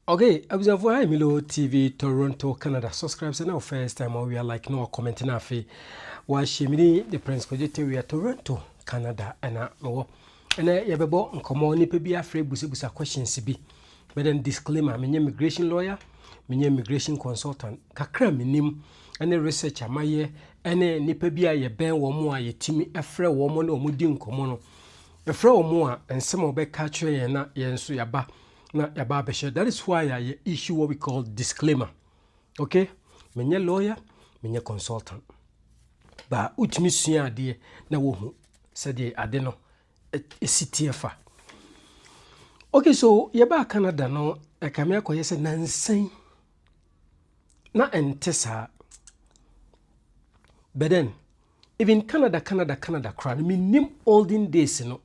Okay, abusuafoɔ ha Emilio TV Toronto Canada subscribe sɛ na wo first time ɔwia like na comment na afei wahyɛ me din the Prince Kojo Tewia Toronto Canada ɛna mewɔ ɛnɛ yɛbɛbɔ nkɔmmɔ nipa bi afrɛ busabusa questions bi bɛdɛ no disclaimer menyɛ immigration lawyer menyɛ immigration consultant kakra menim ɛne research amayɛ ɛne nipa bi a yɛbɛn wɔn a yɛtumi afrɛ wɔn ne wɔn di nkɔmmɔ no Yɛfrɛ wɔn a, nsɛm a wɔbɛka akyerɛ yɛn na yɛn nso yɛaba na yɛaba abɛhyɛ. That is why a yɛ issue what we call disclaimer. Okay? Menyɛ lawyer, menyɛ consultant. Ba wotumi sua adeɛ na wohu sɛdeɛ ade no ɛsi teɛ fa. Okay, so yɛbaa Canada no, ɛkame akɔyɛ sɛ nansan na ɛnte saa. But then, Even Canada Canada Canada koraa no mennim olden days no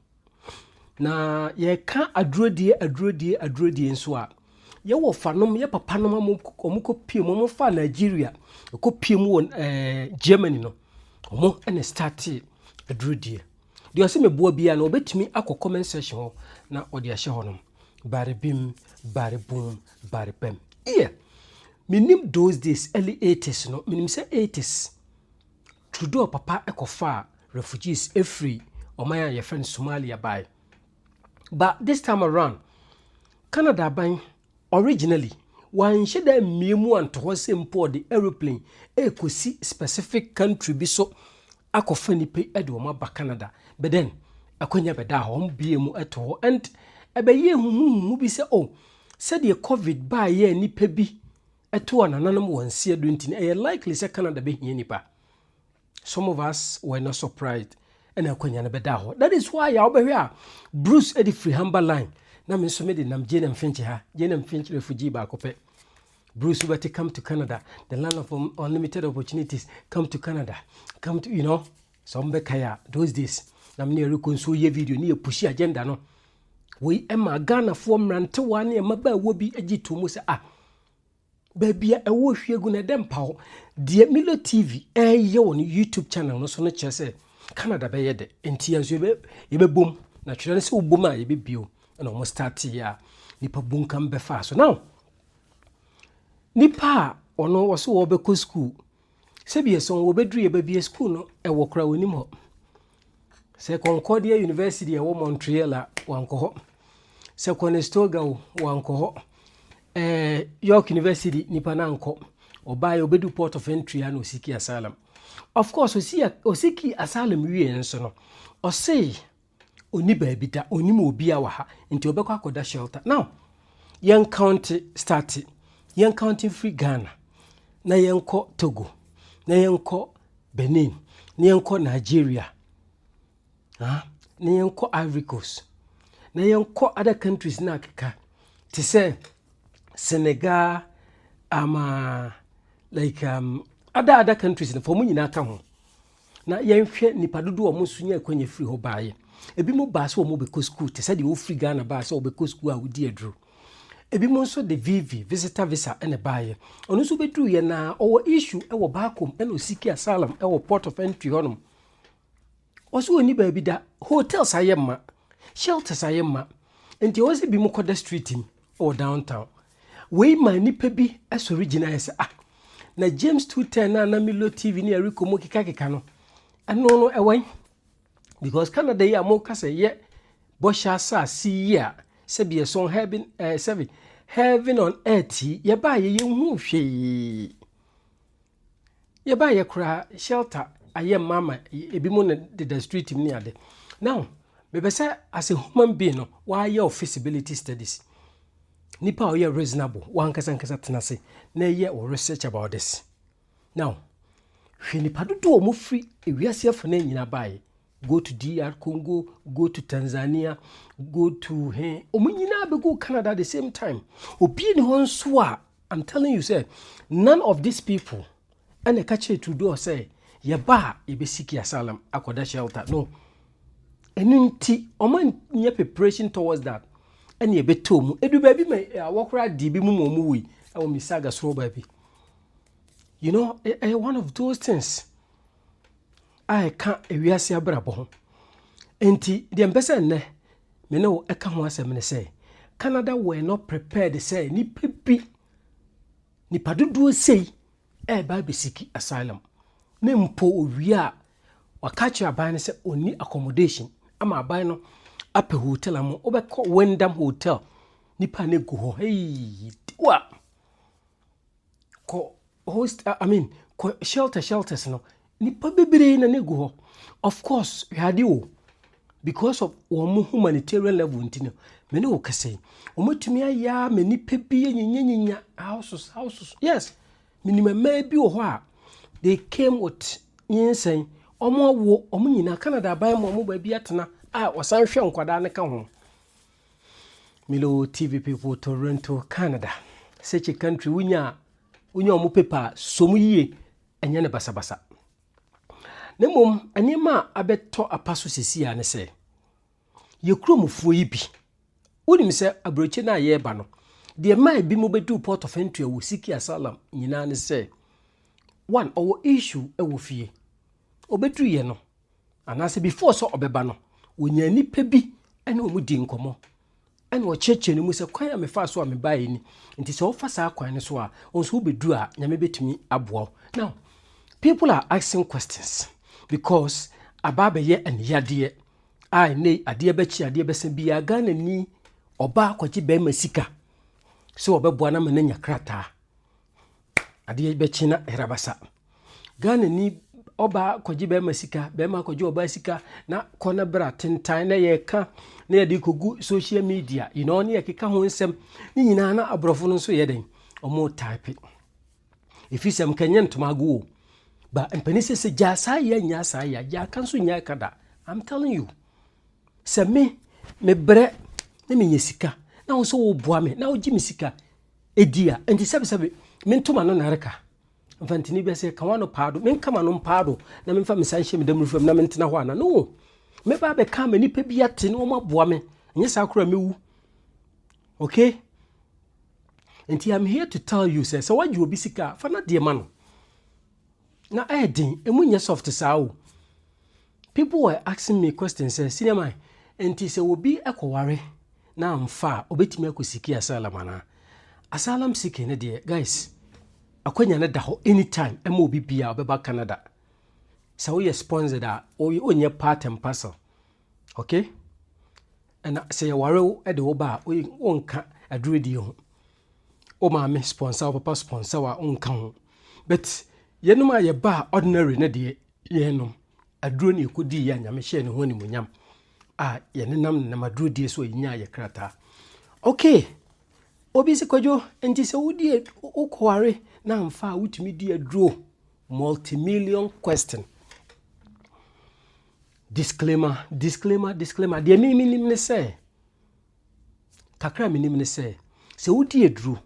na yɛka adurodie adurodie adurodie nso a yɛwɔ fanom yɛ papa nom a wɔn kɔ pie mu wɔn fa Nigeria kɔ pie mu wɔ eh, Germany no wɔn ɛna startee adurodie deɛ ɔsɛ meboa biara no ɔbɛtumi akɔ comment section hɔ na ɔde ahyɛ hɔ nom bare bim bare bum bare bɛm yeah menim those days early 80s no menim sɛ 80s Trudeau papa kɔfaa refugees firi ɔman a yɛfrɛ no Somalia bae. But this time around, Canada aban originally wanhyɛ da ammue mu anto hɔ sɛ mpo ɔde aeroplane rekɔsi specific country bi so akɔfa nnipa yi de wɔn aba Canada. But then, akwanya bɛdaa hɔ, wɔbue mu to hɔ and ɛbɛyɛɛ huhuhuhu bi sɛ oh, sɛdeɛ covid baeɛ a nnipa bi ɛto a nananom wɔ nse adu nti no ɛyɛ likely sɛ Canada bɛhia nnipa. Some of us were not surprised ɛna akwanya no bɛdaa hɔ. That is why a wobɛhwɛ a Bruce de firi ha mba line na me nso mede nam Jane and Finch ha, Jane and Finch refugee baako pɛ. Bruce wobɛte come to Canada, the land of unlimited opportunities, come to Canada, come to, you know. Sɛ ɔmo bɛkae a, those days na me ne Eriko nso yɛ video ne yɛ pushi agenda no. Wei ɛma Ghanafoɔ mmerantewaa ne mmabaawa bi gye to mu sɛ ah, baabi a ɛwɔ hwie gu no ɛdɛ mpa hɔ. Deɛ Milo TV ɛreyɛ wɔ ne YouTube channel no so no kyerɛ sɛ Canada bɛyɛ dɛ, nti yɛn nso yɛbɛ yɛbɛbom na twerɛ no sɛ wobom a yɛbɛbio na wɔn starteeɛ a nipa bunkam bɛfaa so. Now nipa a ɔno wɔso wɔbɛkɔ school Sɛbie so wɔbɛduru yɛ babie sukuu no ɛwɔ koraa wɔnim hɔ. Sɛ Concordia University ɛwɔ Montreal a wankɔ hɔ. Sɛ Conestoga o wankɔ hɔ. Ɛɛ York University nipa no ankɔ. Ɔbaeɛ ɔbɛdu port of entry a na ɔsiki asylum. Of course ɔsiki asylum wie nso no ɔsei Ɔnni baabi da, ɔnnim obiara wɔ ha, nti ɔbɛkɔ akɔda shelter. Now, yɛn county starte, yɛn county mfiri Ghana, na yɛnkɔ Togo, na yɛnkɔ Benin, na yɛnkɔ Nigeria, ah, na yɛnkɔ Ivory Coast, na yɛnkɔ other countries no akeka, te sɛ Senegal, ama, um, uh, like um, other other countries no fa ɔmo nyinaa ka ho. Na yɛnhwɛ nnipa dodoɔ a wɔn nso nyaa akwanya firi hɔ baeɛ. Ebinom baa sɛ wɔbɛkɔ sukuu te sɛ deɛ wɔfiri Ghana baa sɛ wɔbɛkɔ sukuu a wɔdi aduro. Ebinom nso de VV, visitor visa, na ɛbaeɛ. Ɔno nso bɛduruiɛ no ara, ɔwɔ issue wɔ Baakom na ɔsiki asylum wɔ port of entry hɔnom. Ɔse ɔnni baabi da, hotels ayɛ mma, shelters ayɛ mma, nti ɛwɔ sɛ binom kɔda street mu. wɔ downtown. Wei maa nnipa bi sɔre gyinaeɛ sɛ, Ah, na James 210 no a na Milo TV ne Eriko mu kekakeka no, ɛno no ɛwɔ he? Because Canada yi a moka sɛ yɛ bɔhyɛ asase yi a sɛbi ɛsɔn heaven, eh, sɛbi heaven on earth yi, yɛbaa yɛ yɛnhuu hwee. Yɛbaeɛ koraa shelter ayɛ mma ma ebinom na deda street mu ne ade now mepɛ sɛ as a human being no wayɛ wo feasibility studies nipa a ɔyɛ reasonable wankasa nkasa tena ase na ɛyɛ wo research about this now hwɛ nipa dodoɔ a wɔfiri ewiase afana nyinaa baeɛ go to DR Congo, go to Tanzania, go to he, wɔn nyinaa bɛ go Canada the same time. Obi ni hɔ nso a, I'm telling you sɛ, none of these people ɛna ɛka kyerɛ Trudeau sɛ, yɛba a yɛbɛsiki asylum akɔda shelter. No. Ɛno nti, wɔn nyɛ preparation towards that. Ɛna yɛbɛtɔ wɔn. Edu baabi ma eh, awɔ koraa di bi mu ma wɔn wui ɛwɔ Mississauga soro baabi. You know, ɛyɛ eh, eh, one of those things. a ɛka wiase abrabɔ ho. Enti, deɛ mpɛ sɛ nnɛ me ne wo ɛka ho asɛm ne sɛ, Canada were not prepared sɛ nipa bi, nipa dodoɔ sei ɛreba abɛsiki asylum. Ne mpo owie a, waka akyerɛ aban no sɛ ɔnni accommodation ama aban no apɛ hotel ama wobɛkɔ Wyndham Hotel nipa no gu hɔ hei wa kɔ Host I mean kɔ shelter shelters no nipa bebree na na egu hɔ of course hwade o because of wɔn mo humanitarian level nti no me ne wo kɛse wɔn atumi ayɛ a me nipa bi nyinya nyinya houses houses yes me ni mmaa bi wɔ hɔ a they came with nyinsɛn wɔn awo wɔn nyinaa Canada aban mu wɔn baabi atena a wɔsan hwɛ nkwadaa no ka ho Milo TV people Toronto, Canada. Such a country wonya wonya wɔn paper a so mu yie ɛnyɛ ne basabasa. Na mmom nneɛma a abɛtɔ apa so sisi a ne sɛ yɛ kuromufoɔ yi bi wonim sɛ aburokyi no a yɛreba no deɛ ma ebi mu bɛduu port of entry wɔ siki asalam nyinaa ne sɛ one ɔwɔ issue wɔ fie ɔbɛduruyɛ no anaasɛ before sɛ ɔbɛba no, onyaa nnipa bi ne wɔn dii nkɔmmɔ ɛna ɔkyerɛkyerɛ no mu sɛ kwan a mefaa so a mebaeɛ ni nti sɛ wofa saa kwan no so a wo nso wobɛduru a nyame bɛtumi aboa wo now people are asking questions because aba abɛyɛ aniyadeɛ a ɛnɛ adeɛ bɛkye adeɛ bɛsa biara ghana ni ɔbaa kɔgye bɛrima sika sɛ ɔbɛboa no ma no anya krataa Adeɛ bɛkye na hera basa. Ghanani ɔbaa kɔgye bɛrima sika, bɛrima kɔgye ɔbaa sika na kɔ na bra tentan na yɛka na yɛde kɔgu social media you know, ne yɛkeka ho nsɛm ne nyinaa na aborɔfo no nso yɛ dɛn ɔmo type ɛfiri sɛ mkɛnyɛ ntoma ago o ba mpani sɛ sɛ gyaa saa yɛ nyaa saa yɛ gyaa ka nso nyaa ka da I'm telling you sɛ me mebrɛ na menyɛ sika na wo nso woboa me na wogye me sika di a, enti sɛbesɛbe mento m'ano nnareka mfa ntini bi ase, ɛka w'ano paa do, menka m'ano mpaa do na memfa me nsa nhyɛ me damuru fam na mentena hɔ ana? No! Mɛba abɛka ama nnipa bi ate na wɔaboa me, ɛnyɛ saa koraa mɛwu. Okay? Enti I'm here to tell you sɛ, sɛ woagye obi sika a, fa n'adeɛ ma no. Na ɛyɛ den, emu nyɛ soft saa o. People were asking me question sɛ, Senior man, ɛnti sɛ obi kɔware na amfa a, obetumi akɔ siki asylum anaa? Asylum seeking no deɛ, guys, akwanya no da hɔ anytime ɛma obi biaa ɔbɛba Canada. Sɛ woyɛ sponsored a, wonyɛ part and parcel, okay? Ɛna sɛ yɛware wo de wo ba a, wonka adurudie ho. Wo maame sponsor wo papa sponsor wo a wonka ho but yɛnom a yɛbaa ordinary no deɛ yɛnom aduro ne yɛkɔdii yɛ a nyame hyɛɛ ne ho animonyam a yɛnenam nenam aduro die so a yɛnyaa yɛ krataa okay obi sɛ kwadwo nti sɛ wodie wokɔware na amfa a wotumi di aduro multimillion question disclaimer disclaimer disclaimer deɛ memenim ne sɛ Kakra a minim ne sɛ, sɛ wodi aduru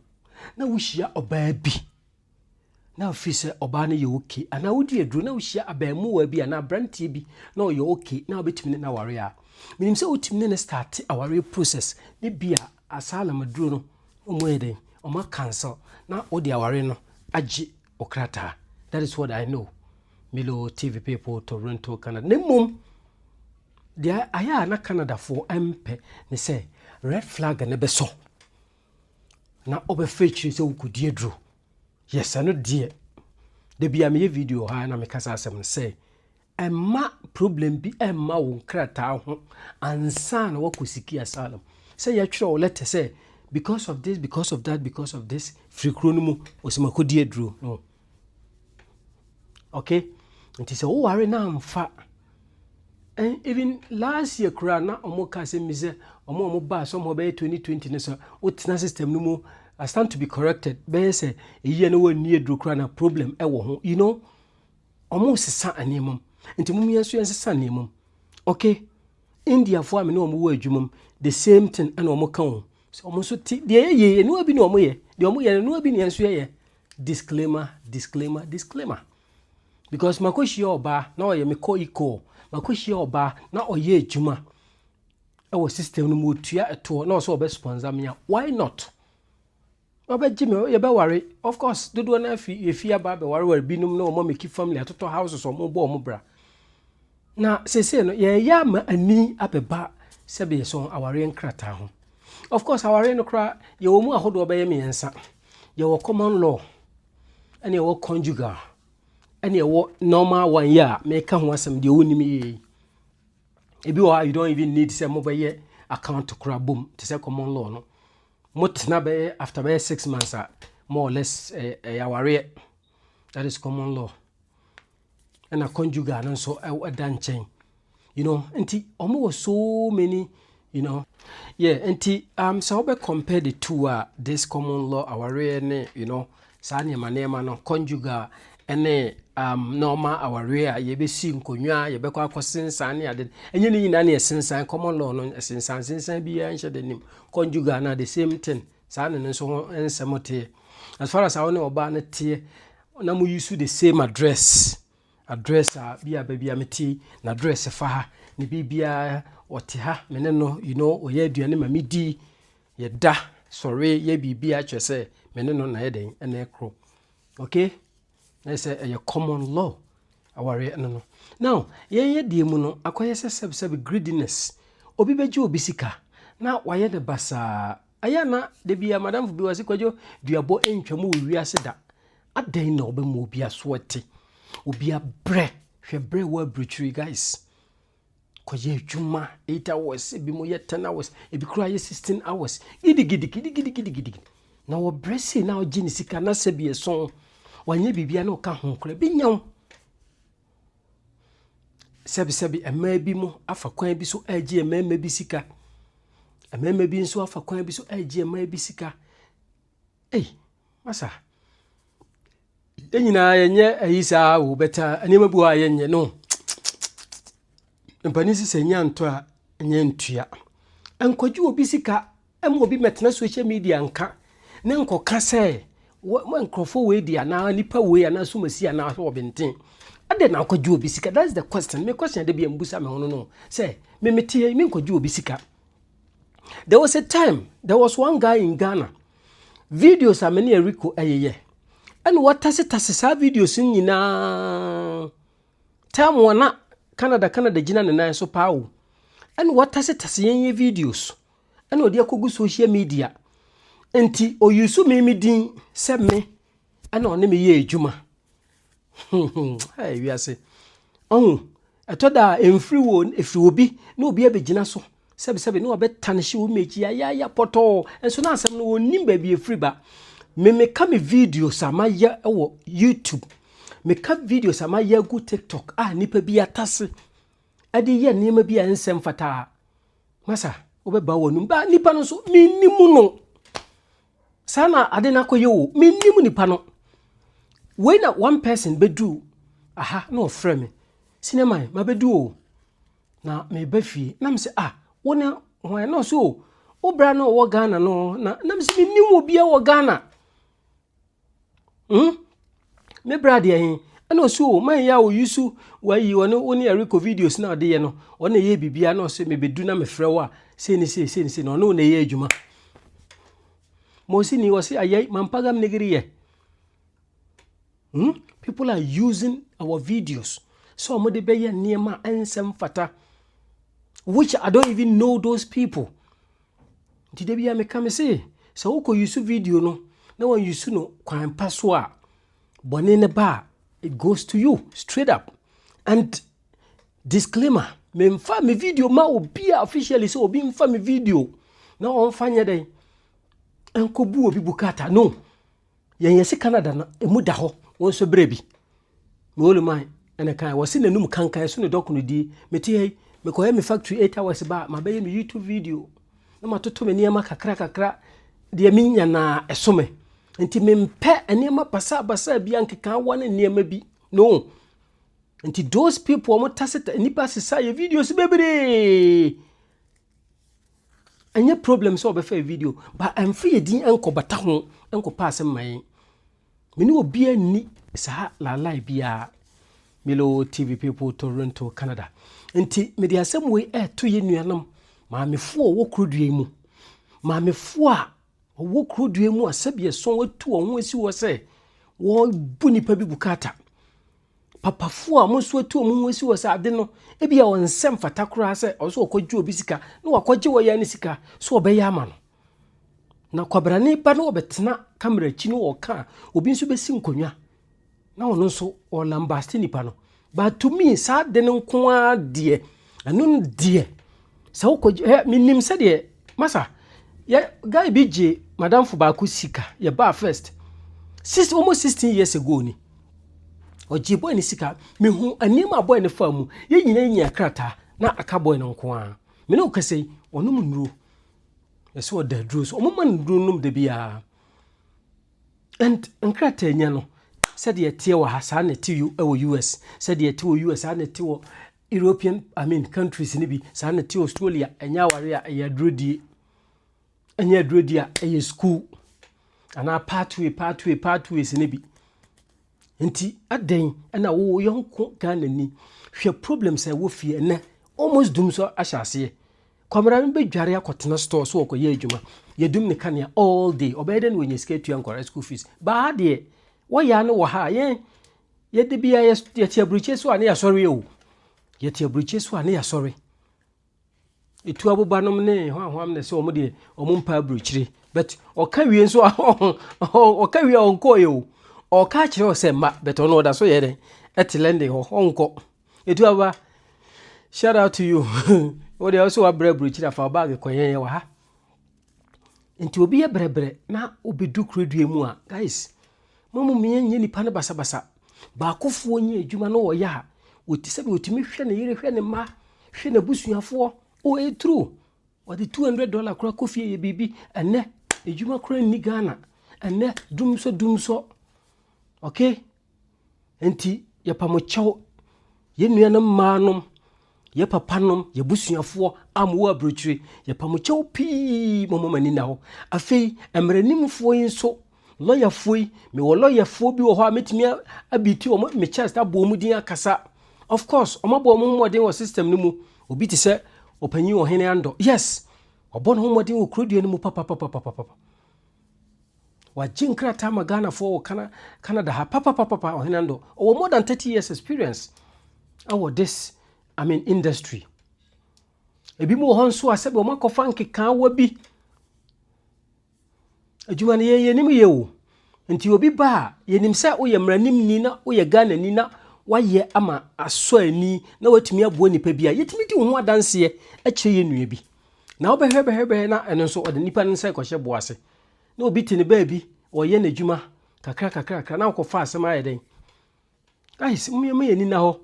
na wuhyia ɔbaa bi na afei sɛ ɔbaa no yɛ ok, anaa wodi aduru na wuhyia abaamua bi anaa aberanteɛ bi na ɔyɛ ok na wobɛtumi ne no aware a, menim sɛ wotumi ne no starte awareɛ process na ebia asylum aduro no wɔayɛ dɛn, wɔa cancel na wode aware no agye wo krataa. That is what I know. Milo TV people, Toronto, Canada. Na mmom, Deɛ ayɛ a na Canadafoɔ mpɛ ne sɛ red flag no bɛsɔ na wɔbɛfa akyire sɛ wokɔdi aduro. Yes, ɛno deɛ da bia meyɛ video wɔ ha na meka saa asɛm no sɛ ɛma problem bi ɛmma wo nkrataa ho ansa na wakɔ siki asylum sɛ yɛtwerɛ wo lɛtɛ sɛ because of this because of that because of this firi kuro no mu ɔsɛ makɔdi aduro no Okay, nti sɛ woware na amfa and even last year koraa na wɔn ka asɛm bi sɛ wɔn a wɔn baa somehow bɛyɛ 2020 no sɛ wotena system no mu I stand to be corrected bɛyɛ sɛ eyi na wɔn ani aduro koraa na problem ɛwɔ ho you know wɔn sesa nneɛma mu nti mo yɛn nso yɛn sesa nneɛma mu okay Indiafoɔ a me ne wɔn wɔ adwuma mu the same thing ɛna wɔn ka wɔn sɛ wɔn nso ti deɛ yɛ yie nua bi na wɔn yɛ deɛ wɔn yɛ nua bi na yɛn nso yɛ yɛ Disclaimer disclaimer disclaimer because makɔhyia ɔbaa na ɔyɛ me kɔ ikɔɔ makɔhyia ɔbaa na ɔyɛ adwuma ɛwɔ system no mu ɔtua ɛtoɔ na ɔsɛ ɔbɛ sponsor me a why not ɔbɛgye me yɛbɛware of course dodoɔ no afi yɛfi aba bɛwareware binom na ɔma meki family atotɔ houses ɔmo bɔ ɔmo bra na sese no yɛyɛ ama ani abɛba sɛbe yɛsɔn awareɛ nkrataa ho of course awareɛ no koraa yɛwɔ mu ahodoɔ bɛyɛ mmiɛnsa Yɛwɔ common law, ɛna ɛwɔ conjugal, ɛna ɛwɔ normal one yi a meka ho asɛm deɛ wonim yie yi. Ebi wɔ hɔ a you don't even need sɛ mobɛyɛ account kora bom te sɛ common law no. Motena bɛyɛ after bɛyɛ six months a more or less ɛyɛ awareɛ. That is common law. ɛna conjugal no nso ɛda nkyɛn you know nti wɔn wɔ so many you know. yeah nti um, sɛ wobɛ compare the two a this common law awareɛ ne you know saa nneɛma nneɛma no conjugal ɛne um, normal awareɛ a yɛbɛsi nkonnwa yɛbɛkɔ akɔsensan ne ade ɛnyɛ ne nyinaa ne ɛsensan common law no ɛsensan sensan biara nhyɛ da nim conjugal no the same thing saa ne no nso ho nsɛm teɛ as far as a wo ne ɔbaa no teɛ na mo use the same address address a bi a baabi a mete n'address fa ha ne biribiara ɔte ha me ne no you know ɔyɛ aduane ma medi yɛda sɔre yɛ biribiara kyerɛ sɛ me ne no na yɛ dɛn ɛna ɛkorɔ okay na yɛ sɛ ɛyɛ common law awareɛ no no now yɛn yɛ deɛ mu no akɔyɛ sɛ sɛbsɛb greediness obi bɛgye obi sika na wayɛ ne basaa Ɛyɛ a na da biara madamfo bi wɔ se kwadwo duabɔ ntwam wɔ wiase da. Adɛn na ɔbɛma obi aso ate? Obi abrɛ. Hwɛ brɛ wɔ aburukyiri guys. Kɔyɛ adwuma eight hours, ebi mo yɛ ten hours, ebi koraa yɛ sixteen hours. Gidigidi gidigidi gidigidi. Na wɔbrɛ sei na ɔgye ne sika na sɛ bi ɛso wanyɛ biribiara na ɔka ho koraa bi nyaw. Sɛbesɛbe mmaa bi mo afa kwan bi so regye mmarima bi sika. Mmarima bi nso afa kwan bi so regye mmaa bi sika. Ei, masa! Yɛn nyinaa yɛnyɛ ayi saa o, bɛta uh, nneɛma bi wɔ a yɛnyɛ no. Mpanin si sɛ nya ntɔ a, nya ntua. Nkɔgye obi sika Ɛma obi mmɛtena social media nka na nkɔka sɛ nkurɔfoɔ wei deɛ anaa nipa wei anaa sumasi anaa sɛ ɔbenten adɛn na akɔgye obi sika that's the question me question de bi mbusa me ho no no sɛ me mete yɛ me nkɔgye obi sika there was a time there was one guy in Ghana videos a me ne Eriko ɛyeyɛ ɛna wɔtase tase saa videos nyinaa time wɔn na Canada Canada gyina ne nan so paa o ɛna wɔtase tase yɛn yɛ videos. ɛna ɔde akɔgu social media nti ɔyusu me me din sɛ me ɛna ɔne me yɛ adwuma wiase ɔhu ɛtɔ da a ɛmfiri wo ɛfiri obi na obi abɛgyina so sɛbesɛbe na ɔbɛtane hye wo mɛkyi ayaya pɔtɔɔ nso na asɛm no wɔnim baabi ɛfiri ba me meka me videos a mayɛ wɔ youtube meka videos a mayɛ agu tiktok a nnipa bi atase de reyɛ nneɛma bi a ɛnsɛ mfata a, masa wobɛba w'anom. Ba nipa no nso, mennim no. Saa na ade no akɔyɛ o, mennim nipa no. Wei na one person bɛduu aha na ɔfrɛ me. Sinema, mabɛdu o. Na meba fie, na mesɛ, ah, wo ne hwan? Na ɔsɛ o, wo bra na ɔwɔ Ghana no, na, na mesɛ mennim obiara wɔ Ghana. Hmm? Me bra deɛ he, ɛna ɔsi o, man yɛ a ɔyi so, wayi ɔne wo ne ɛrekɔ videos na ɔde yɛ no, ɔne ɛyɛ biribiara na ɔsɛ mebɛdu na mefrɛ wo a, sei ne sei, sei ne sei, na ɔne wo na ɛyɛ adwuma. Mosini, ɔse ayɛ, mampagam negiri yɛ. Hmm? People are using our videos. So wɔn de bɛyɛ nneɛma ɛnsɛm fata. Which I don't even know those people. Nti da biara meka me se, sɛ wokɔ yusu video no na wanyusu no kwan pa so a, bɔne no ba a, it goes to you straight up. And disclaimer, memfa me video ma obi a officially sɛ obi mfa me video na ɔmfa nyɛ dɛn ɛnkɔbu obi bukata no. Yɛn yɛse Canada no ɛmu da hɔ wo nso berɛ bi. Me only man ɛna kan wɔse n'anum kankan ɛso ne dɔko no die. Mete ha yi mekɔyɛ me factory 8 hours ba a mabɛyɛ me YouTube video na matoto me nneɛma kakra kakra deɛ menya na ɛso me. Nti mempɛ nneɛma basaa basaa bi ankekaa wɔ ne nneɛma bi no. Nti those people wɔn tase nipa sesa yɛ videos bebree. Ɛnyɛ problem sɛ ɔbɛfaa video, but ɛmfa yɛn din nkɔbata ho nkɔpa asɛm ma yɛn. Me ne obiara nni saa laalae biara. Milo TV people Toronto, Canada. Nti mede asɛm wei ɛreto yɛn nuanom maamefoɔ a wɔwɔ kuro dua mu. Maamefoɔ a wɔwɔ kuro dua mu a sɛbi ɛso wɔatu wɔn ho asi hɔ sɛ wɔbu nipa bi bukata. Papafoɔ a wɔn nso atu wɔn ho asi hɔ sɛ ade no, ebia wɔn nsa mfata koraa sɛ ɔsɛ ɔkɔgye obi sika na wakɔgye wɔ yɛn ne sika sɛ ɔbɛyɛ ama no. Na kwabrane ba no ɔbɛtena kamera akyi no ɔka a, obi nso bɛsi nkonnwa na ɔno nso ɔlambaste nipa no. But to me, saa ade no nko ara deɛ, Ɛno no deɛ sɛ wokɔ ɛ menim sɛdeɛ masa yɛ guy bi gye madamfo baako sika yɛ baa first six almost sixteen years ago ni ɔgye boy ne sika mehu nneɛma a boy ne fa mu yɛ nyinaa nyinaa krataa na aka boy no nko ara me ne wo kasa yi ɔnom nnuro ɛsɛ ɔda aduro so ɔmoma no nnuro nom da biara and nkrataa nya no sɛdeɛ ɛteɛ wɔ ha saa na ɛte wɔ US sɛdeɛ ɛte wɔ US saa na ɛte wɔ European I mean countries no bi saa na te Australia ɛnyɛ aware a ɛyɛ adurudie ɛnyɛ adurudie a ɛyɛ school anaa pathway pathway pathways no bi nti adɛn ɛna wo yɔnko Ghana ni hwɛ problems a ɛwɔ fie ɛnɛ almost dum so ahyɛ aseɛ kwamara no bɛdware akɔtena store so ɔkɔyɛ adwuma yɛdum ne kanea all day ɔbɛyɛ dɛ na wɔnya sika atua nkɔra school fees baa deɛ wɔyɛ ano wɔ ha yɛn Yɛ da biara yɛ yɛ te aburukye so a ne yasɔre o. Yɛ te aburukye so a ne yasɔre. Etu aboba nom ne hwanhwam na sɛ ɔmo deɛ ɔmo mpa aburukyire. But ɔka wie nso a ɔka wie a ɔnkɔ yɛ o. Ɔka kyerɛ ɔ sɛ ma but ɔno ɔda so yɛ dɛ. Ɛte lɛnde hɔ ɔnkɔ. Etu aboba shout out to you. Wo deɛ ɔsɛ wabrɛ aburukyire a fa wo bag kɔ yɛn yɛ wɔ ha. Nti obi yɛ brɛbrɛ na obedu kuro dua mu a, guys, mo mo mmea nyɛ nipa no basabasa. Baakofoɔ nyɛ adwuma na ɔyɛ a, wɔti sɛbi wɔtumi hwɛ ne yere, hwɛ ne mma, hwɛ n'abusuafoɔ. O ɛyɛ true. Wɔde 200 dollar kora kɔ fie yɛ biribi. Ɛnɛ, adwuma kora nni Ghana. Ɛnɛ, dumsɔ dumsɔ. Okay? Enti yɛpa mo kyɛw, yɛn nuanom mmaa nom, yɛn papa nom, yɛn abusuafoɔ a mowɔ aburokyire, yɛpa mo kyɛw pii, momma mo ani nna hɔ. Afei, mmaranimfoɔ yi nso, lɔyafoɔ yi, mewɔ lɔyafoɔ bi wɔ hɔ a mɛtumi abiti wɔn, me chest abɔ wɔn din akasa. Of course, wɔn abɔ wɔn ho mmɔden wɔ system no mu. Obi te sɛ ɔpanyin ɔhene andɔ. Yes, ɔbɔ ne ho mmɔden wɔ kurodua no mu papapapapapa. Wagye nkrataa ama Ghanafoɔ wɔ Cana Canada ha papapapapa Ɔhene Ando. Ɔwɔ more than 30 years experience ɛwɔ this I mean industry. Ebi mu wɔ hɔ nso a sɛbi wɔn akɔfa nkekaawa bi. Adwuma no yɛn yɛnim yɛ o. Nti obi ba a yɛnim sɛ woyɛ mmaranimni na woyɛ Ghanani na wayɛ ama asɔ ani na watumi aboa nipa bi a yɛtumi di wo ho adanseɛ kyerɛ yɛn nua bi. Na wobɛhwɛ bɛhwɛ bɛhwɛ na ɛno nso ɔde nipa no nsa rekɔhyɛ boɔ ase. Na obi te ne baabi ɔyɛ n'adwuma kakra kakra kakra na wokɔfa asɛm ayɛ dɛn. Guys, mmiɛma yɛ nina hɔ.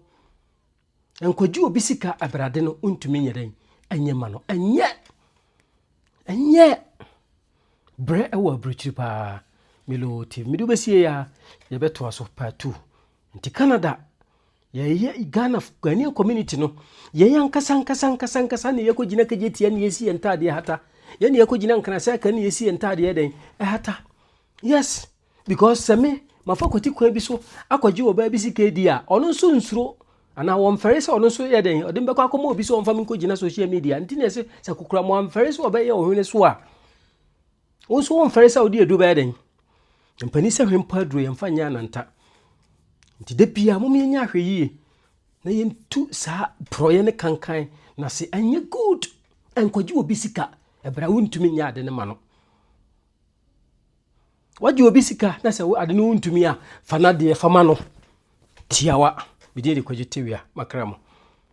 Nkɔgye obi sika abrade no ntumi nyɛ dɛn ɛnyɛ ma no. Ɛnyɛ ɛnyɛ brɛ ɛwɔ aburukyiri paa. Milo TV. Mede wobɛsie ya yɛbɛtoa so part two. Nti Canada Yɛn yɛ Ghana Ghanaian community no yɛn ankasa ankasa ankasa ankasa na yɛkɔ gyina kagye tia na yɛsi yɛn ntaadeɛ hata yɛn na yɛkɔ gyina nkrasɛ aka na yɛsi yɛn ntaadeɛ dɛn ɛhata yes because sɛ me mafa kwati kwan bi so akɔgye ɔbaa bi sika di a ɔno nso nsuro anaa wɔmfɛre sɛ ɔno nso yɛ dɛn ɔde mbɛkɔ akɔma obi sɛ ɔmfa me nkɔ gyina social media nti na ɛsɛ sɛ kokora mo amfɛre sɛ ɔbɛyɛ ɔhwene so a Wo nso womfɛre sɛ wode aduru bɛyɛ dɛn? Mpanin sɛ hwɛ mpo aduru yɛmfa nyɛ ananta. Nti da biara mom yɛnyɛ ahwɛ yie na yɛntu saa porɔeɛ ne kankan na se ɛnyɛ good ɛnkɔgye obi sika ɛberɛ a wontumi nyɛ ade no ma no. Wagye obi sika na sɛ ade no wontumi a fa no adeɛ fa ma no tiawa. Medin de kwagye tewia makra mu.